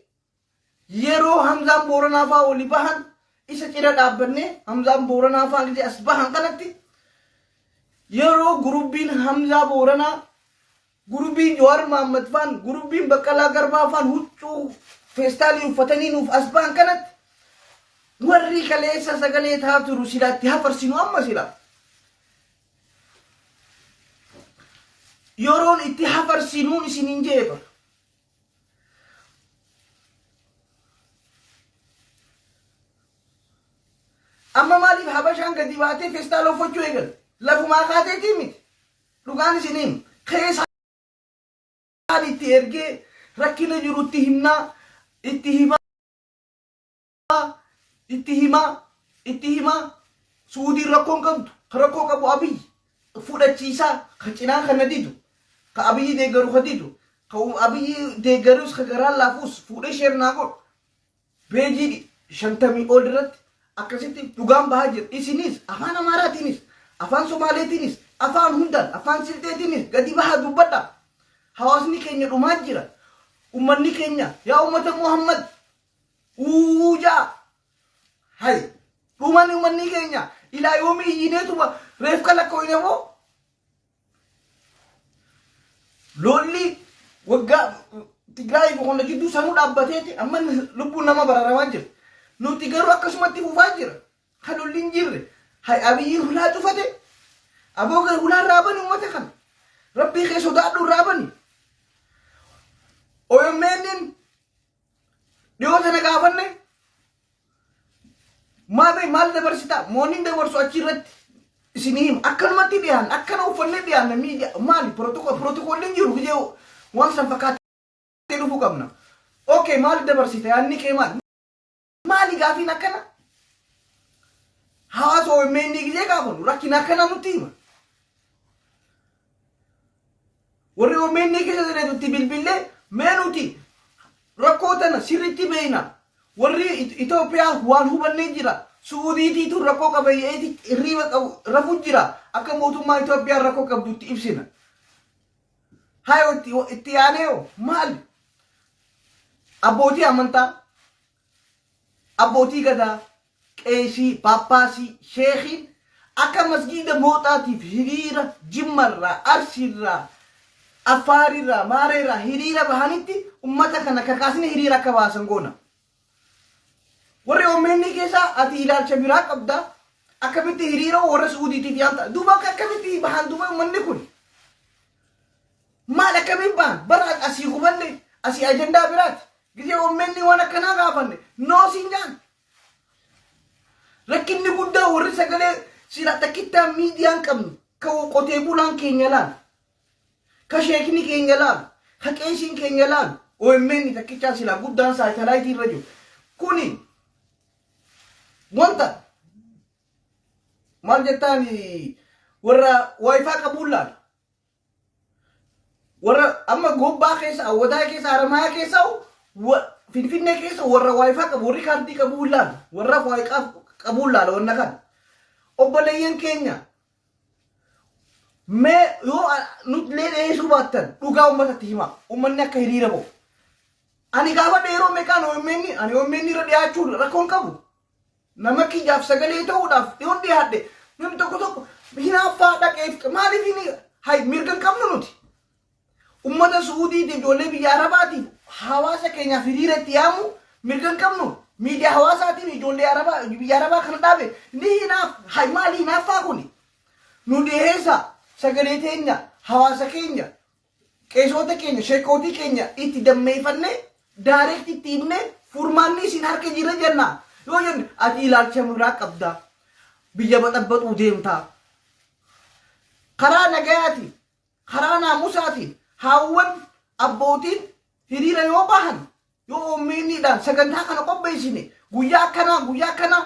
yeroo Hamzaan Booranaa fa'aa oli bahan isa cina dhaabbannee Hamzaan Booranaa fa'aa gizee as bahan kanatti yeroo gurubbiin Hamzaa Booranaa Gurubbiin Jawaar Mahaammad faan, gurubbiin Baqqalaa Garbaa faan huccuu feestaalii uffatanii nuuf as ba'an kanatti warri kaleessa sagalee ta'aa turu silaa itti hafarsinu amma silaa. Yeroon itti hafarsinuun isiniin jedhe bar. Amma maaliif habashaan gadi baatee feestaala uffachuu eegalte? Lafumaa kaateetii miti. Dhugaan isiniin keesaa Ani itti ergee rakkina jiru itti himnaa itti himaa itti himaa itti himaa suudiin rakkoo hin qabdu ka rakkoo qabu abiy fudhachiisaa ka cinaa kana didu ka abiy deeggaru ka didu ka abiy deeggarus ka garaan laafuus fuudhee sheer naa godhu Peejii 50 ol irratti akkasitti dhugaan bahaa jira. Isinis afaan Amaaraatiinis, afaan Somaaleetiinis, afaan hundaan, afaan Silxeetiinis gadi bahaa dubbadhaa. Hawaasni keenya dhumaa jira. Ummanni keenya yaa ummata Muhammad uuu ja'a. Hay dhuman ummannii keenya ilaa yoomii iyyineetuma reefka lakkooyne moo? Lolli waggaa Tigraayii fi qonna gidduu sanuu dhaabbateeti amma lubbuun nama bararamaa jira. Nuti garuu akkasumatti fufaa jira. Ka lolli hin jirre. Hay abiyyiin hulaa cufate. Aboo gara hulaa irraa bani uummata kana. Rabbii kee sodaadhu irraa bani. OMN'n Dhiyoo tana gaafanne maamee maal dabarsitaa moonni dabarsu achi irratti isin hima akkanumatti dhiyaan akkana uffannee dhiyaanna miidiya maali pirootokoolliin jiru gijee waan san fakkaatee dhufuu qabna. Okay maal dabarsita yaadni kee maal? Maali gaafiin akkana? Hawaasa OMN gizee gaafanu rakkina akkana nutti hima. Warri OMN keessa jireetutti bilbillee mee nuti rakkoo tana sirriitti beeyna. Warri It- Itoophiyaa waan hubannee jira. Suudiitiitu rakkoo qabayyeeti hirriiba qabu rafu jira. Akka mootummaa Itoophiyaan rakkoo qabdutti ibsina. Hayo itti itti yaanee hoo maali? Abbootii amantaa, abbootii gadaa, qeesii, paappaasii, sheekiin akka masgiida mooxaatiif hiriira jimmarraa, arsiirraa, affaarirraa, maareerraa hiriira bahanitti ummata kana kakaasni hiriira akka baasan goona. Warri OMN keessaa ati ilaalcha biraa qabda. Akkamitti hiriira warra Suudiitiif yaamta? Duuba akka akkamitti bahan duuba uummanni kun? Maal akkamiin bahan? Bara asii hubanne asii ajandaa biraati. Gizee OMN waan akkanaa gaafanne noo siin jaan. Rakkinni guddaa warri sagalee sila takkittaa miidiyaan qabnu kan qotee bulaan keenya laal. Ka sheekni keenya laalu, ka qeesiin keenya laalu omn takkichaa silaa guddaan saatalaayitii irra jiru. Kuni wanta maal jettaan warra waayifaa qabuun laalu. Warra amma gobbaa keessa, awwadaa keessa, haramayaa keessa, wa- finfinnee keessa warra waayifaa qabu, warri kaardii qabuun laalu, warra waayiqaa qabuun laala wanna kana. Obboleeyyan keenya Mee yoo nutlee dhiyeessuu baattan dhugaa uummatatti himaa. Uummanni akka hiriira bahu. Ani gaafadhe yeroo meeqaan OMN ani OMN irra dhiyaachuu rakkoon qabu. Nama kiyyaaf sagalee ta'uudhaaf dhiyoon dhiyaadhe namni tokko tokko hinaaffaa dhaqeef maaliif hin hay mirga hin qabnu nuti. Ummata Su'uudiitiif, ijoollee biyya Arabaatiif, hawaasa keenyaaf hiriira itti yaamuu mirga hin qabnuu? Miidiyaa hawaasaatiin ijoollee Arabaa, biyya Arabaa kana dhaabe ni hinaaf, hay maali hinaaffaa kuni? Nuu dhiheessaa, sagalee teenya, hawaasa keenya, qeesoota keenya, sheekkootii keenya itti dammeeyfannee, direct itti himnee, furmaanni isin harka jira jennaa? Yoo jenne, ati ilaalcha nurraa qabdaa, biyya baxabbaxuu deemtaa, karaa nagayaatiin, Karaa naamusaatiin haawwan, abbootiin hiriira yoo bahan yoo OMN dhaan sagantaa kana qopheessine guyyaa akkanaa guyyaa akkanaa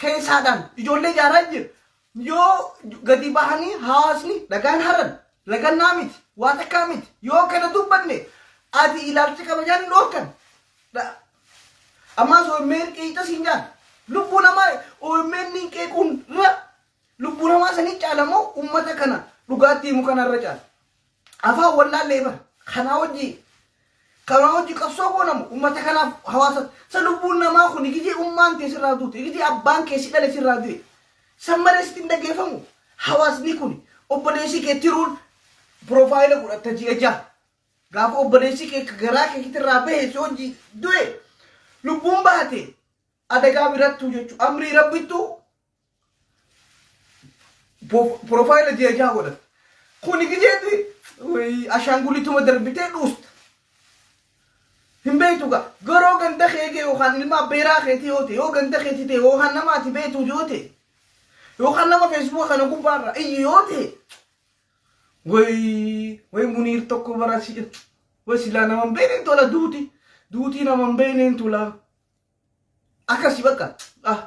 keessaadhaan ijoollee ijaaraa jira. Yoo gadi bahanii hawaasni dhagaan haran lagannaa miti waa takkaa miti yoo kana dubbanne ati ilaalcha kabajaan hin dhoorkan. Dha- Ammaas OMN qeeqxa siin jaan lubbuu namaa OMN qeequun irra Lubbuu namaa sanii caala moo ummata kana dhugaatti himu kana irra caala. Afaan wallaallee bara kanaa hojii kanaa hojii qabsoo goona moo ummata kanaaf hawaasa sa lubbuun namaa kun igijee ummaan tee sirraa duute igijee abbaan kee si dhale sirraa du'e san malee sitti hin dhageeffamu hawaasni kun obboleessi kee tiruun piroofaayila godhatta ji'a ja'a gaafa obboleessi kee ka garaa kee kitirraa bahe si hojii du'e lubbuun baate adagaa birattuu jechuu amrii rabbittuu Profaayila ji'a jaha godhata. Kuni gideetti ashaangulituma darbitee dhuusta. Hin beektu gaa garoo ganda kee kee yookaan ilma abbeeraa keetii yoo ta'e yoo ganda keetii ta'e yookaan nama ati beektu yoo ta'e yookaan nama feesbuuka kana gubbaarra iyyu yoo ta'e way way muniir tokko bara si way silaa nama hin beekneen tola duuti duutii nama hin beekneen tolaa. Akkasi bakka ah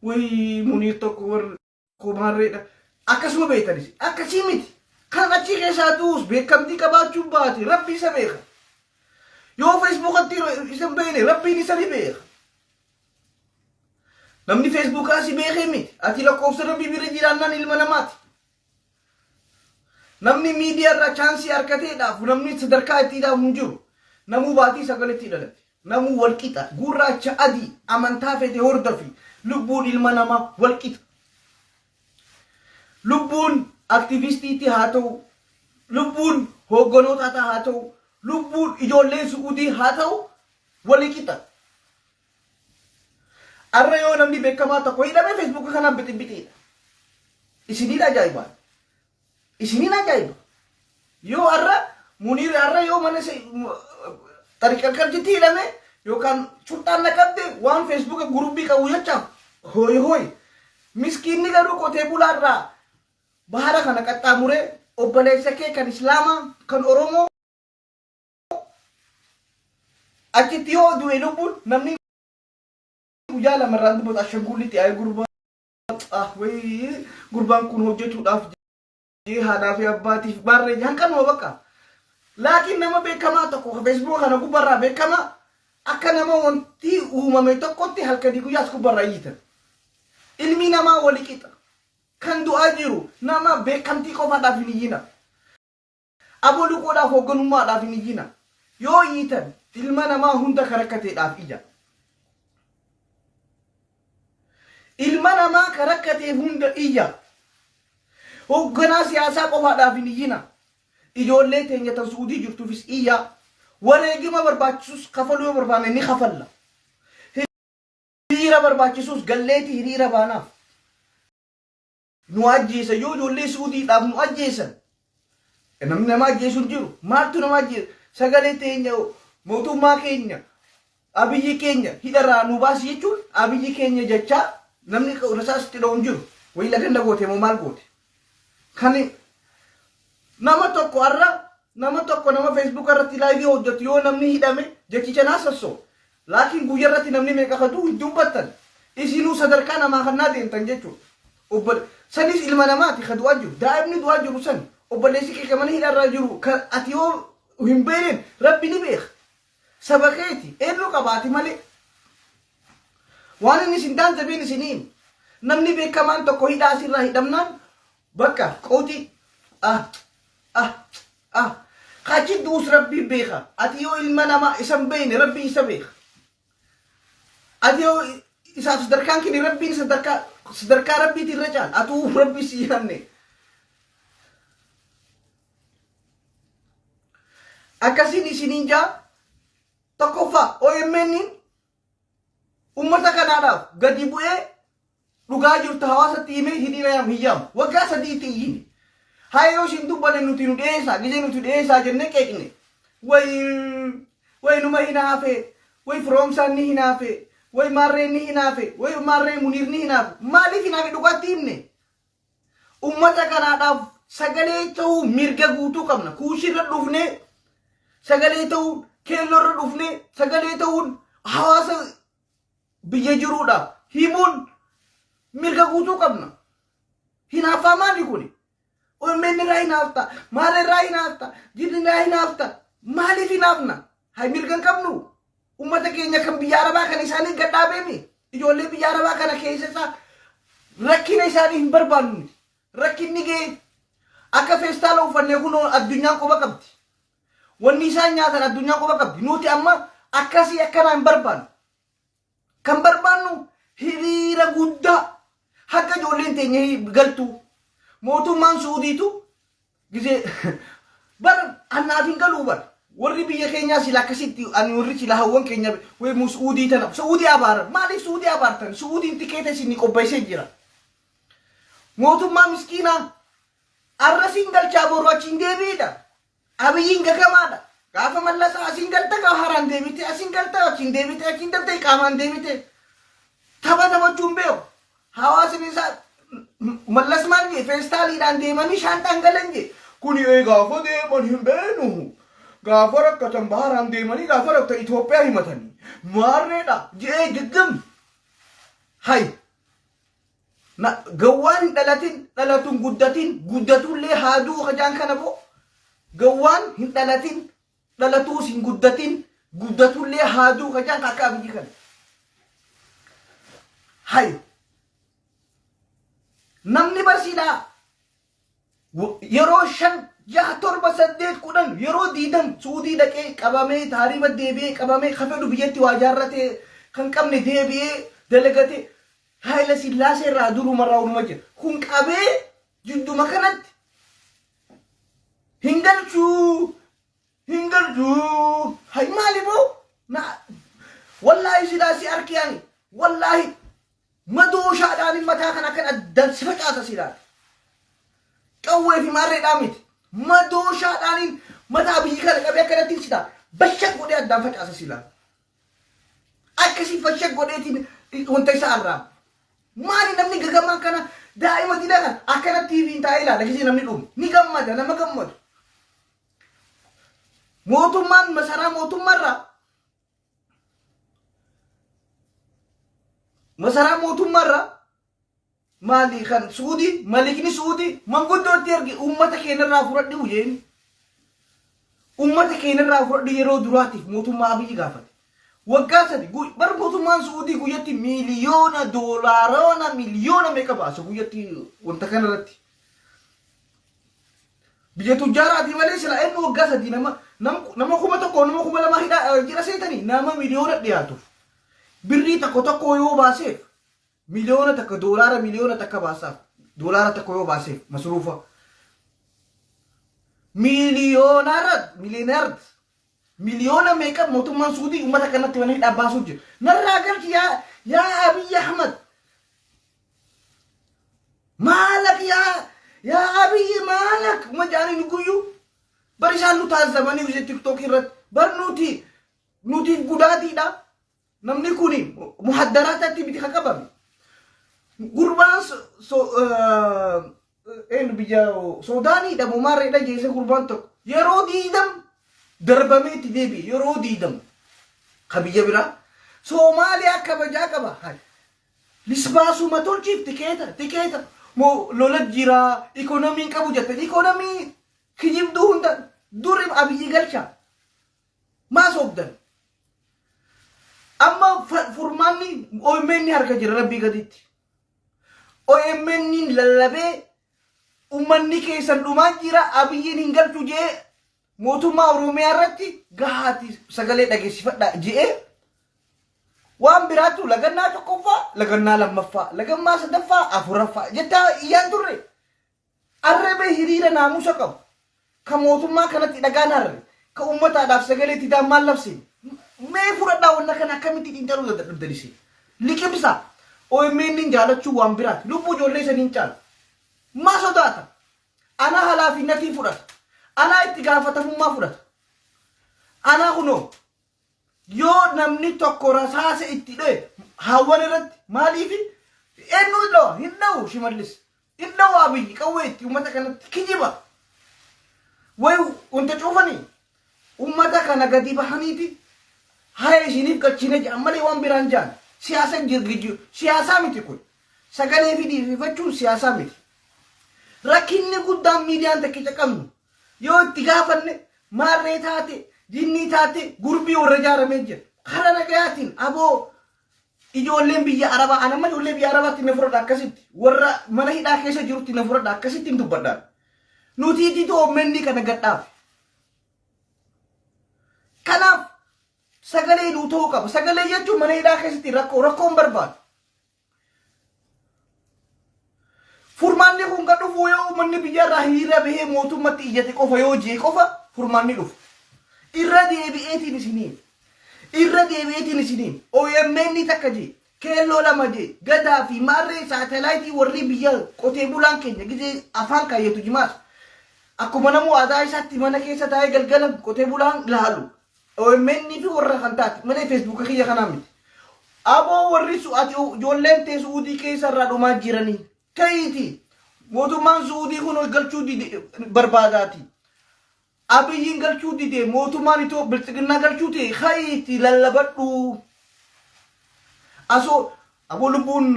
wayii muniir tokko warra komaarreedha akkasuma beektanis akkasii miti kan achii keessaa du'us beekamtii qabaachuun baate rabbi isa beeka yoo feesbuukatti isin beekne rabbiin isa ni beeka namni feesbuukaa si beekee miti ati lakkoofsa rabbii bira jiraannaan ilma namaati Namni miidiyaa irraa chaansii arkatee dhaafu namni sadarkaa itti dhaafu hin jiru. Namuu baatii sagaletti dhalate. Namuu wal qixa. Gurraacha adii amantaa fete hordofi. Lubbuun ilma namaa wal qixa. Lubbuun aktivistiitti haa ta'u, lubbuun hoogganootaataa haa ta'u, lubbuun ijoollee su'udii haa ta'u wali qixa. Arra yoo namni beekamaa tokko hidhame feesbuuka kanaan bixibbixiidha. Isiniin ajaa'ibaa. Isiniin ajaa'iba. Yoo arra muniir arra yoo mana xariqarqarjitti hidhame yookaan shurxaan naqabde waan feesbuuka gurubbii qabu jechaaf hooyi hooyi. Miskiinni garuu qotee bulaarraa bahara kana qaxxaamuree obboleessa kee kan islaamaa kan oromoo achitti yoo du'e lubbuun namni guyyaa lama irraa dubbatu ashanguullitti ayee gurbaa ah wayii gurbaan kun hojjetuudhaaf jee haadhaa fi abbaatiif baarree jee hanqanuma bakka laakiin nama beekamaa tokko ka feesbuuka kana gubbarraa beekamaa akka nama wanti uumame tokkotti halkanii guyyaas gubbarraa iyyitan ilmi namaa wali qixa kan du'aa jiru nama beekamtii qofaadhaaf hin iyyina Abo luqoodhaaf hogganummaadhaaf hin iyyinaa. Yoo iyyitan ilma namaa hunda ka rakkateedhaaf iyya. Ilma namaa ka rakkateef hunda iyya. Hogganaa siyaasaa qofaadhaaf hin iyyinaa. Ijoollee teenya tan Su'udii jirtuufis iyyaa. Wareegima barbaachisus kafaluu yoo barbaanne ni kafalla. Hiriira barbaachisus galleeti hiriira baanaaf. nu ajjeesa yoo ijoollee suudiidhaaf nu ajjeesan namni nama ajjeesu hin jiru maaltu nama ajjeesa sagalee teenya mootummaa keenya abiyyi keenya hidharraa nu baasi jechuun abiyyi keenya jechaa namni rasaasitti dha'u hin jiru wayi laganna goote moo maal goote kan nama tokko har'a nama tokko nama feesbuuka irratti laayivii hojjetu yoo namni hidhame jechicha naa sassoo Laakiin guyya irratti namni meeqa akka du'u hin dubbattan. Isinuu sadarkaa namaa kannaa deemtan jechuudha. Obbole sanis ilma namaati ka du'aa jiru. Daa'imni du'aa jiru san obboleessi kee ka mana hidhaa irraa jiru ka ati yoo hin beekneen Rabbi ni beeka. Saba keeti. Eennu qaba ati malee. Waan inni isin daanzabeen isinii hima. Namni beekamaan tokko hidhaa asirraa hidhamnaan Bakka qawxii ah ah ah kachi duus rabbii beeka ati yoo ilma namaa isan beeyne rabbii isa beeka ati yoo isaaf sadarkaan kini rabbiin sadarkaa sadarkaa rabbiiti irra caal atuu rabbii si yaanne akkasiin isiniin jaa tokkoffaa OMN ummata kanaadhaaf gadi bu'ee Dhugaa jirtu hawaasatti himee hidhii rayaam hin yaamu. Waggaa sadiitti iyyine. Haya yoo isin dubbane nuti nu dhiyeessaa. Gizee nuti dhiyeessaa jennee qeeqne. Wayi wayi numa hinaafe. Wayi firoomsaan ni hinaafe. Wayi maarreen ni hinaafe. Wayi maarreen muniir ni hinaafe. Maaliif hinaafe dhugaatti himne? Ummata kanaadhaaf sagalee ta'uu mirga guutuu qabna. Kuushirra dhufnee sagalee ta'uu keelloorra dhufnee sagalee ta'uun hawaasa biyya jiruudha himuun mirga guutuu qabna. Hinaaffaa maali kuni? OMN irraa hinaafta, maal irraa hinaafta, jiddi irraa hinaafta, maaliif hinaafna? Hay mirga hin qabnu. Uummata keenya kan biyya arabaa kan isaanii gadhaabeemi. Ijoollee biyya arabaa kana keessa isaa rakkina isaanii hin barbaannu nuti. Rakkinni ga'e akka feestaala uffannee kunoo addunyaan quba qabdi. Wanni isaan nyaatan addunyaa quba qabdi. Nuti amma akkasii akkanaa hin barbaannu. Kan barbaannu hiriira guddaa haga ijoolleen teenya galtu. Mootummaan Suudiitu gisee bar annaaf hin galuu bar. Warri biyya keenyaa sila akkasitti ani warri sila hawwan keenya wee mu Suudii tana Suudii abaaran maaliif Suudii abaartan Suudiin tikeeta isin qopheessee jira. Mootummaa miskiinaa Arra siin galchaa boru achi hin deebi'idha. Abiyyiin gagamaadha. Gaafa mallasa asiin galta gaafa haraan deebite asiin galta achiin deebite achiin galta qaamaan deebite. Tapha taphachuun beeku. Hawaasni isaa mallas maal jee feestaaliidhaan deemanii shaanxaan galan jee. Kuni ee gaafa deeman hin beenu. Gaafa rakkatan baharaan deemanii gaafa rakkatan Itoophiyaa himatanii. Maarreedha jee giggim. Hayi. Na- Gawwaan hin dhalatin dhalatu hin guddatin guddatullee haa du'u hajaan kana boo gawwaan hin dhalatin dhalatuus hin guddatin guddatullee haa du'u hajaan akka abiyyi kana. Hay namni barsiidhaa yeroo shan jaha torba saddeet kudhan yeroo diidam suudii dhaqee qabamee taariba deebi'ee qabamee ka fedhu biyyatti waa jaarratee kan qabne deebi'ee dalagate haayila sillaasee irraa duruma irraa hunuma jira kun qabee jidduma kanatti hin galchuu hin galchuu hay maali boo na wallaahi silaa si arkiyaani wallaahi Madooshaadhaan mataa kana akkan addaan si facaasa si ilaala. Qawwee fi maarreedhaan miti. Madooshaadhaan mataa biyyi kana qabee akkanatti si ta'a. Bashak godhee addaan facaasa si ilaala. Akkasii fashak godheetiin wanta isa arraaba. Maali namni gagamaan kana daa'ima dina kana akkana TV'n taa'ee ilaala gisee namni dhumu. Ni gammada nama gammadu. Mootummaan masaraa mootummaarraa masaraa mootummaarraa maalii kan suudii malikni suudii manguddootti ergi uummata keenyarraa fudhadhi uyyeen uummata keenyarraa fudhadhi yeroo duraatiif mootummaa abiyyi gaafate waggaa sadi gu- bar mootummaan suudii guyyatti miiliyoona doolaarona miliyoona meeqa baasa guyyatti wanta kanarratti Biyya tujjaaraatii malee silaa inni waggaa sadii nama nam- nama kuma tokko nama kuma lamaa hidhaa eh, jira seetanii nama miliyoona dhiyaatuuf birrii tokko tokko yoo baaseef miliyoona takka doolaara miliyoona takka baasaaf doolaara tokko yoo baaseef masruufa miiliyoonaara miiliyoonard miliyoona meeqa mootummaan suudii uummata kanatti mana hidhaa baasuuf jira narraa galchi yaa yaa abiyyi ahmad Maalak yaa yaa abiyyi maalak uma jaaniin guyyuu bari isaan nu taasisanii ishee tiktookii irratti bar nuti nuti gudaatiidha namni kuni muhaddaraatatti miti kan qabame gurbaan so, so, uh, Eenyu biyya Suudaanii dhabumaa reedha jeesee gurbaan tokko yeroo diidam darbamee itti deebi'e yeroo diidam ka biyya biraa Soomaaliyaa kabajaa qaba haadha. Lisbaasuma tolchiif tikeeta tikeeta moo lola jiraa ikoonomiin qabu jettan ikoonomii kijibduu hunda duri abiyyi galchaa maa soobdan. Amma fa- furmaanni OMN harka jira rabbii gaditti. OMN'n lallabee ummanni keessan dhumaa jira abiyyiin hin galchu jee mootummaa Oromiyaa irratti gahaati sagalee dhageessifadha jee waan biraatu lagannaa tokkoffaa lagannaa lammaffaa lagammaa sadaffaa afuraffaa jettaa iyyaan turre Arrebe hiriira naamusa qabu, ka mootummaa kanatti dhagaan harre, ka uummataadhaaf sagalee itti ta'an maal labsine? Mee fudhadhaa wanna kana akkamitti xiinxaluu dadhabdan isin? Liqimsaa! OMN'n jaalachuun waan biraati. Lubbuu ijoollee isanii hin caalu. Maa sodaatan? Anaa halaafinnatii fudhata. Anaa itti gaafatamummaa fudhata. Anaa kunoo. Yoo namni tokko rasaasa itti dho'e haawwan irratti maaliif eenyu dho'a hin dha'u shimallis hin dha'u abiyyi qawwee itti uummata kanatti kijiba way wanta cuufanii uummata kana gadi bahaniiti haya isiniif gachine jedhan malee waan biraan jedhan siyaasa jirgijjiru siyaasaa miti kun sagalee fi dhiififachuun siyaasaa miti rakkinni guddaan miidiyaan takkicha qabnu Yoo itti gaafanne maarree taate, jinnii taate, gurbii warra ijaaramee jira. Kara nagayaatiin aboo ijoolleen biyya arabaa an amma ijoollee biyya arabaatti na fudhadha akkasitti warra mana hidhaa keessa jirutti na fudhadha akkasitti hin dubbadhaan. Nuti ititoo ommenni kana gadhaafe. Kanaaf sagalee nuu ta'uu qaba. Sagalee jechuun mana hidhaa keessatti rakkoo rakkoon barbaadu. Furmaanni kun kan dhufu yoo uummanni biyyarraa hiriira bahee mootummatti iyyate qofa yoo jee qofa furmaanni dhufu. Irra deebi'eetiin isiniin. Irra deebi'eetiin isiniin. OMN takka jee. Keelloo lama jee. Gadaa fi maarree saatalaayitii warri biyya qotee bulaan keenya gizee afaan kaayyatu jimaas. Akkuma namuu aadaa isaatti mana keessa taa'ee galgala qotee bulaan laalu. omn fi warra kan taate malee feesbuuka kiyya kanaa miti. Aboo warri su ati ijoolleen tee su'uudii keessa irraa dhumaa jiranii. Ka'iiti mootummaan su'uudii kun ol galchuu dide barbaadaati. Abiyyiin galchuu dide mootummaan itoo bilxiginnaa galchuu ta'e ka'iiti lallabadhuu. Asoo aboo lubbuun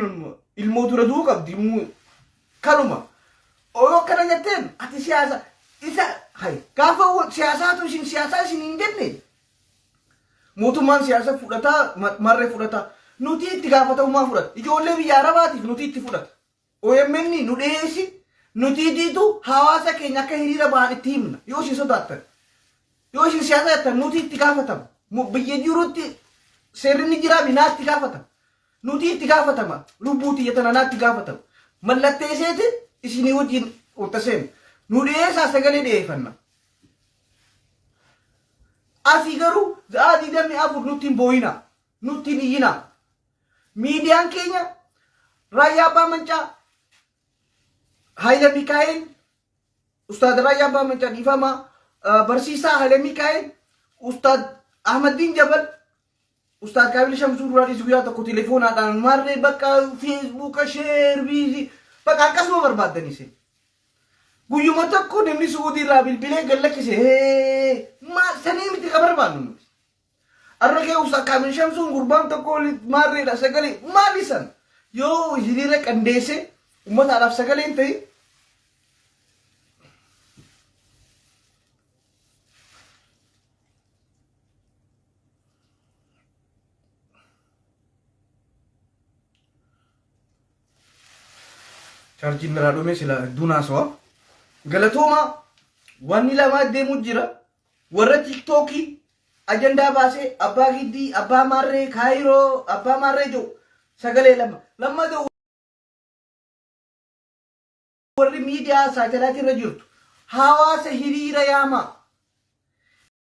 ilmoo dura du'uu qabdi. Kanuma. Oro akkana jetteen ati siyaasa isa hay gaafa wa- siyaasaatu isin siyaasaa isin hin jenne mootummaan siyaasa fudhataa ma- marree fudhataa nuti itti gaafatamummaa fudhata ijoollee biyya arabaatiif nuti itti fudhata OMN nu dhiyeessi nuti diitu hawaasa keenya akka hiriira bahan itti himna yoo isin sodaattan yoo isin siyaasa jettan nuti itti gaafatama Mu- biyya jirutti seerri ni jira binaa itti gaafatama Nutii itti gaafatama lubbuu tiyya tana naatti gaafatama mallatteeseeti isinii wajjin urtaseena nu dhiyeessaa sagalee dhiyeeffanna asii garuu za'aa digdamii afur nutti hin booyina nutti hin iyyina miidiyaan keenya raayyaa abbaa mancaa Haayila Mikaa'el Ustaad Raayyaa Abbaa Mancaa dhiifama barsiisaa Haayila Mikaa'el Ustaad Ahmaddiin Jabal Ustaaz Kaamil Shamsuu duraa dhiisi guyyaa tokko telefoonaadhaan maarree bakka feesbuuka sheer biizii bakka akkasuma barbaaddanii seen. Guyyuma tokko namni Su'uudii irraa bilbilee gad lakkise hee maal sanii miti ka barbaannu nuti. Arra kee Ustaaz Kaamil Shamsuun gurbaan tokko oli maarreedha sagalee maali san yoo hiriira qandeesse uummataadhaaf sagalee hin ta'in. charjiin irraa dhume sila hedduun haasawa galatooma wanni lamaa deemu jira warra tiktookii ajandaa baasee abbaa giddii abbaa maarree kaayiroo abbaa maarree jiru sagalee lama lammata warri miidiyaa saatalaatii irra jirtu hawaasa hiriira yaamaa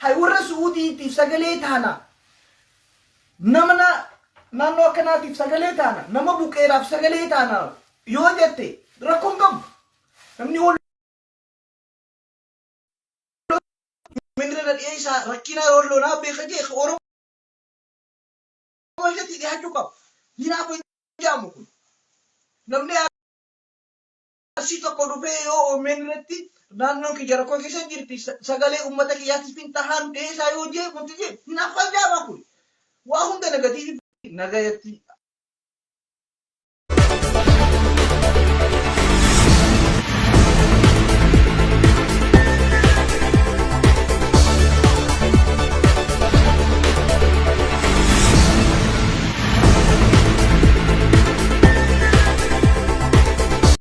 Hay warra Su'uudiitiif sagalee taana. Nama na- naannoo akkanaatiif sagalee taana. Nama buqqeeraaf sagalee taana yoo jette rakkoon qabu. Namni wal minira na dhiyeessaa rakkina walloo naa beeka jee ka Oromoo walitti dhiyaachuu qaba. Hinaafuu hin jaamu kun. Namni Arsii tokko dhufee yoo omn irratti naannoon kiyya rakkoo keessa jirti sagalee uummata kiyyaatiif hin tahaan dhiyeessaa yoo jee wanti jee hinaaffaa jaabaa kun waa hunda negatiivii nagayatti